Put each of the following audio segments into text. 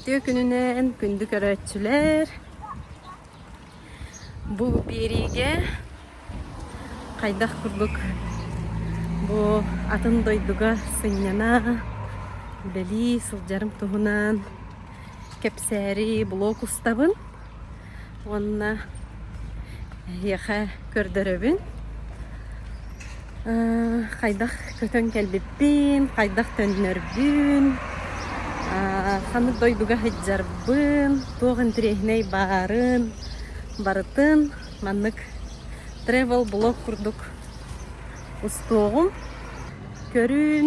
Үтүө күнүнэн күндү көрөөччүлэр. Бу биэриигэ хайдах курдук бу атын дойдуга сынньана үлэлии сылдьарым туһунан кэпсээри блог устабын. уонна эһиэхэ көрдөрөбүн хайдах көтөн кэлбиппин хайдах төннөрбүн ханнык дойдуга сылдьарбын туох интэриэһинэй баарын барытын маннык travel блог курдук устуоҕум көрүүн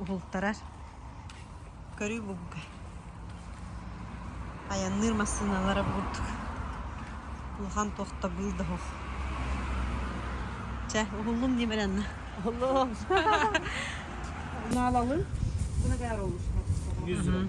уһултарар. Көрүү бугуга. Айанныыр массыыналара буурдук. Улахан тохтобул да оһох. Чэ, уһуллум диэм эрэннэ. Уһуллум. Наалалым. Бына баар олус. Yüz lira.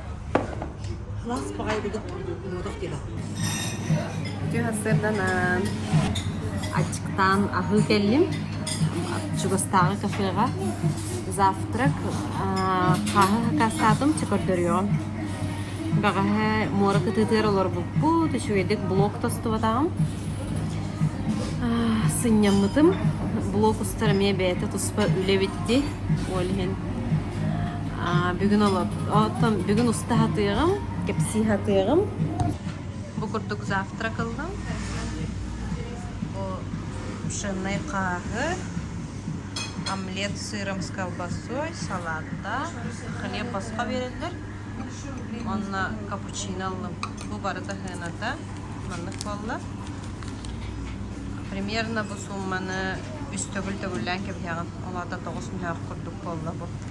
Алаас баҕайы быдах курдук муодах диэн аатырбыт. сырданан аччыктаан аһыы кэллим чугастааҕы кафеҕа завтрак хаһыакассаатым чөкөрдөрүөҕүм бэҕэһээ муора кытыытыгар олорбуппут үчүгэйдик блок тостубатаҕым сынньаммытым блок устар эмиэ бэйэтэ туспа үлэ эбит дии ол иһин А, бүгүн олот, оттон бүгүн уста хатыаҕым. Кэпсии хатыаҕым. Бу курдук завтрак ыллым. Бу пшенной хааһы, омлет с сыром с колбасой, салатта, хлеб босхо бериллер. Онно капучино ыллым. Бу барыта хыната. Маннык буолла. Примерно бу сумманы үс төгүл төгүллээн кэбиһэҕин. Олата тоҕус мүһэх курдук буолла бу.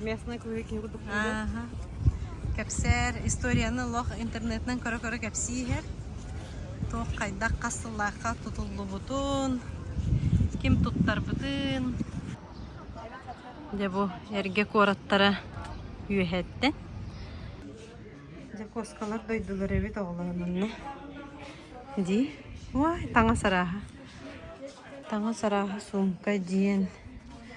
местные круги киһи курдук диигин кэпсэр историяны лох интернетинен көрө-көрө кэпсииһэр туох хайдах хас сыллаахха тутуллубутун ким туттарбытын дьэ бу эргэ куораттара үөһэттэ дьакуоскалар дойдулар эбит оҕолорун онно дии ой таҥас арааһа таҥас арааһа сумка диэн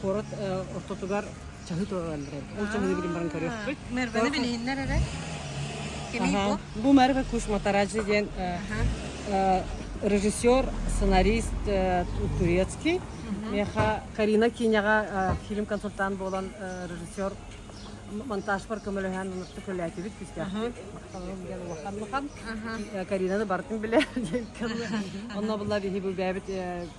куорат ортотугар чаһы тураран эрэр. Ол чаһыны билим баран көрүөхпүт. Мэрбэни билиһиннэр эрэ. Кимий бу? Бу Merve Кушматараджи диэн режиссер, сценарист турецкий. Миэхэ Карина Киняҕа фильм-консультант буолан режиссер монтажпар көмөлөһөн ынытты көлөөтүбүт күстээхпит. Диэн улахан улахан. Каринаны бартын билэ. Онно булла биһи бүбээбит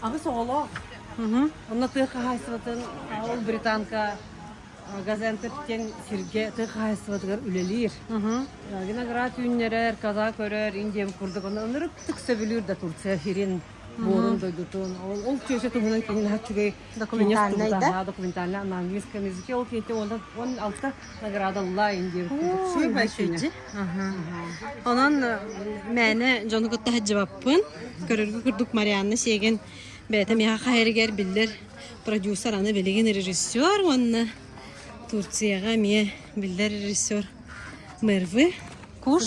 Аҕыс оҕолоох. Онно тыа хаһаайыстыбатын ол британка Газентов диэн сиргэ тыа хаһаайыстыбатыгар үлэлиир. Виноград үүннэрэр, каза көрөр, индиям курдук ону ынырыктык сөбүлүүр да Турция сирин буорун дойдутун. Ол ол чүөчэ туһунан кинилэр үчүгэй документальнай да? Документальнай английскай языке ол киһитэ уонна он алта наградаллаан диир курдук суурбай сүнньэ. Онон мээнэ дьону кытта садьыбаппын. Көрөргө курдук Марианна Сиэгин бэйэтэ миэхэ хаһайырыгар биллэр продюсер, аны билигин режиссер уонна Турцияҕа эмиэ биллэр режиссер мэрвы куш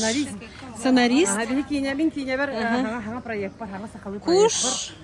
сценарист. Биһи киинэбин киинэбэр хаҥа проекпар хаҥа сахалыы проекпар. Куш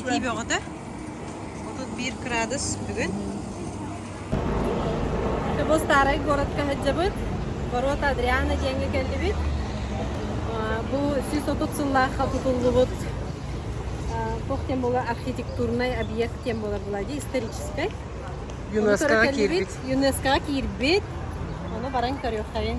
итии бөҕөтө отут биир кыраадыс бүгүн бу старай городка сылдьабыт ворота Адриана диэҥҥэ кэллибит бу сүүс отут сыллаахха тутуллубут туох тем була архитектурнай объект тем була была дии историческай ЮНЕСКО-га киирбит ЮНЕСКО-га киирбит ону баран көрүөххэбин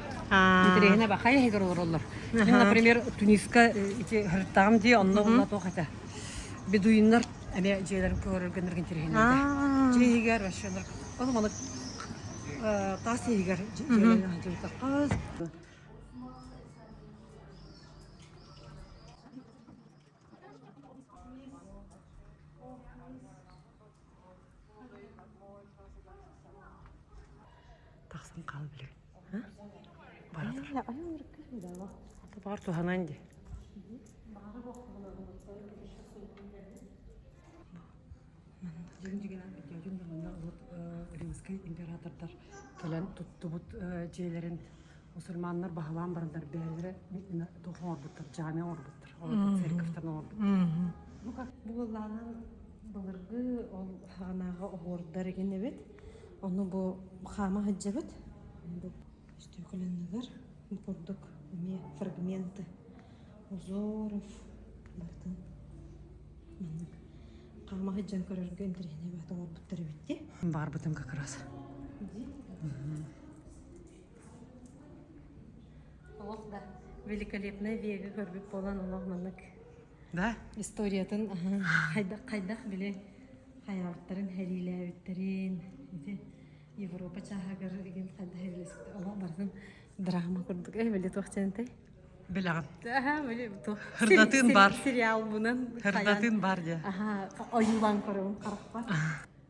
Интэриэһинэ бахай иһигэр олороллор. Мин, например, Туниска ити һырыттаҕым дии, онно онна туох этэ. Бедуиннар эмиэ дьиэлэрин көрөргөннөрг интэриэһинэйдэ. Дьиэ иһигэр вообще олор ол манык таас иһигэр дьиэлэрин дьиэтэххэ Тахсан хаал билир. Бар туһанан ди. Дегенжигенен видеодун да манна римский императордар кэлэн туттубут дьиэлэрин мусульманнар баһылаан барандар бээллэрэ туох оҥорбуттар джамия оҥорбуттар церковьтан оҥорбуттар ну как буолаанан былыргы ол ханааҕа оһуордар инибит ону бу хаама сылдьабыт үстүөкүлэннилэр курдук эмиэ фрагменты узоров бартын маннык хаама сылдьан көрөргө интэриэһинэй баһыт оҥорбуттар эбит ди барбытым как раз ди Олох да великолепное вега көрбүт буолан олох маннык да историятын хайдах хайдах били хайаабыттарын хэлиилээбиттэрин ити Европа чааһыгар игин хайдах хэлилэспит олох барытын драма курдук э били туох чэнтэй Білэҕим. Аха, били туох Хырдатыын бар. Сериал бунан хырдатыын бар дия. Аха, ойуулан көрөбүн харахпар.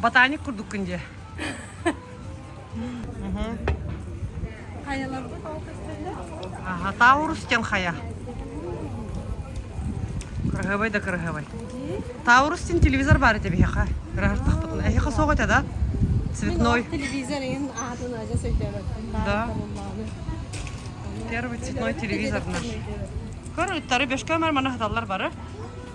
Ботаник курдук күн дии. Хайаларбыт алтыстыннар? Ага, Таурустен хая. Кырыһабай да кырыһабай. Таурустен телевизор бар эти биһиэхэ. Кырыһартахпытын. Эһиэхэ соҕа этэ да? Цветной. Телевизор ин аатын ажа сөйтөөбөттүн. Да. Первый цветной телевизор наш. Көр, үттары бөшкөмөр мана хаталлар бары.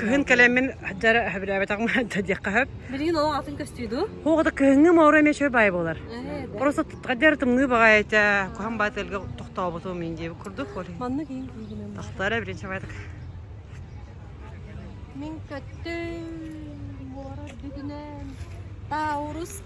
кыһын кэлэммин дьар хөбүлээбэтэҕим да диэххэ хөп билигин ол атын көстүйду хоҕата кыһыҥҥы маура эмиэ чөй баай болар просто таддер тымныы баҕай этэ куһан баа тэлгэ тохтообуту мин дии курдук манна киин киигинем тахтара билин чамайтык мин көттүм муора бүтүнэн таурус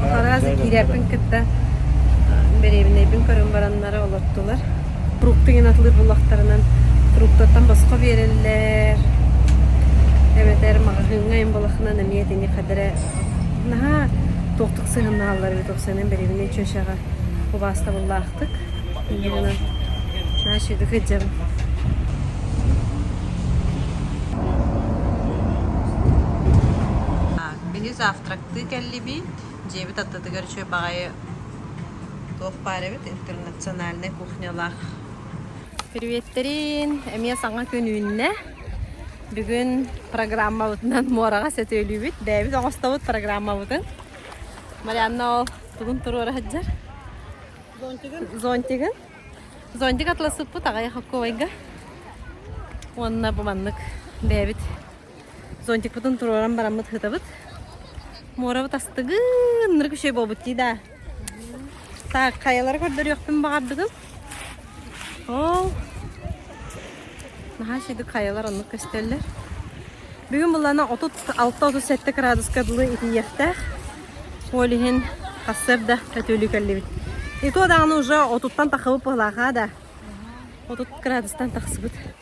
Хараас киирээппин кытта дэриэбинэйбин көрөн бараннара олортулар. Фрукты гынан атылыр буллахтарынан фруктаттан босхо биэрэллэр. Эбэтэр маҕаһыыҥҥа ин балахынан эмиэ итини хадэрэ наһаа туохтук сыһыннаһаллар эбит. Ол сэнэн дэриэбинэй чүөчэҕэ убаастабыллаах Ытык Елена наадьыга дьон Мини завтрактыы кэллибит. Дьиэбит аттытыгар үчүгэй баҕайы туох баар эбит интернациональнай кухнялаах. Приветтерин! Эмиэ саҥа күн үүннэ. Бүгүн программабытынан муораҕа сөтүөлүүбүт. Бэйэбит оҥостобут программабытын. Марианна ол Тугун туруора сылдьар? Зонтигын. Зонтигын. Зонтик атласыппыт аҕай хокковайга. Уонна бу маннык бэйэбит зонтикпытын туруоран бараммыт хытабыт. Муорабыт астыгын нырык үчүгэй буолбут дии да. Так, хайалары көрдөрүөхпүн баҕардыгын? Оо, наһаа сидик хайалар оннук көстөллөр. Бүгүн былана отут алта отут сэттэ кыраадыска дылы итийиэхтээх. Ол иһин хассыырда өтүөлүү кэллибит. Иту даҕаны уже отуттан тахыбыт буолаахаа да. Отут кыраадыстан тахсыбыт.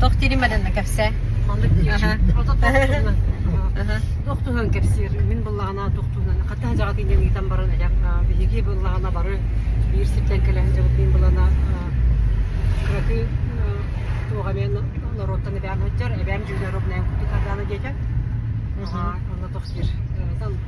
Тох тиримэдэнэ кэпсээ. Маннык туох туһунан кэпсиир мин быллаҕана туох туһунан хата дьаҕат иннен ыытан баран элем биһиги быллаҕана бары биир сиртэн кэлэ сылдьабыт мин былана кыракы туох эмээн норуоттан эбээм сылдьар эбээм дьүүлэр обнээн кутик ардаана диэтэ онно тохтир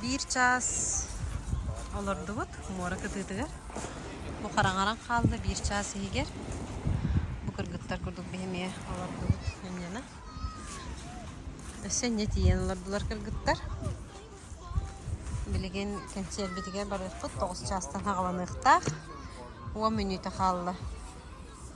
биир чаас олордубут муора кытыытыгар бу хараҥаран хаалла биир чаас иһигэр бу кыргыттар курдук биһи эмиэ олордубут инньэнэ өссө инньэ тиийэн олордулар кыргыттар Билигин кэнсиэрбитигэр барыахпыт тоҕус чаастан хаҕыланыахтаах, уон мүнүүтэ хаалла.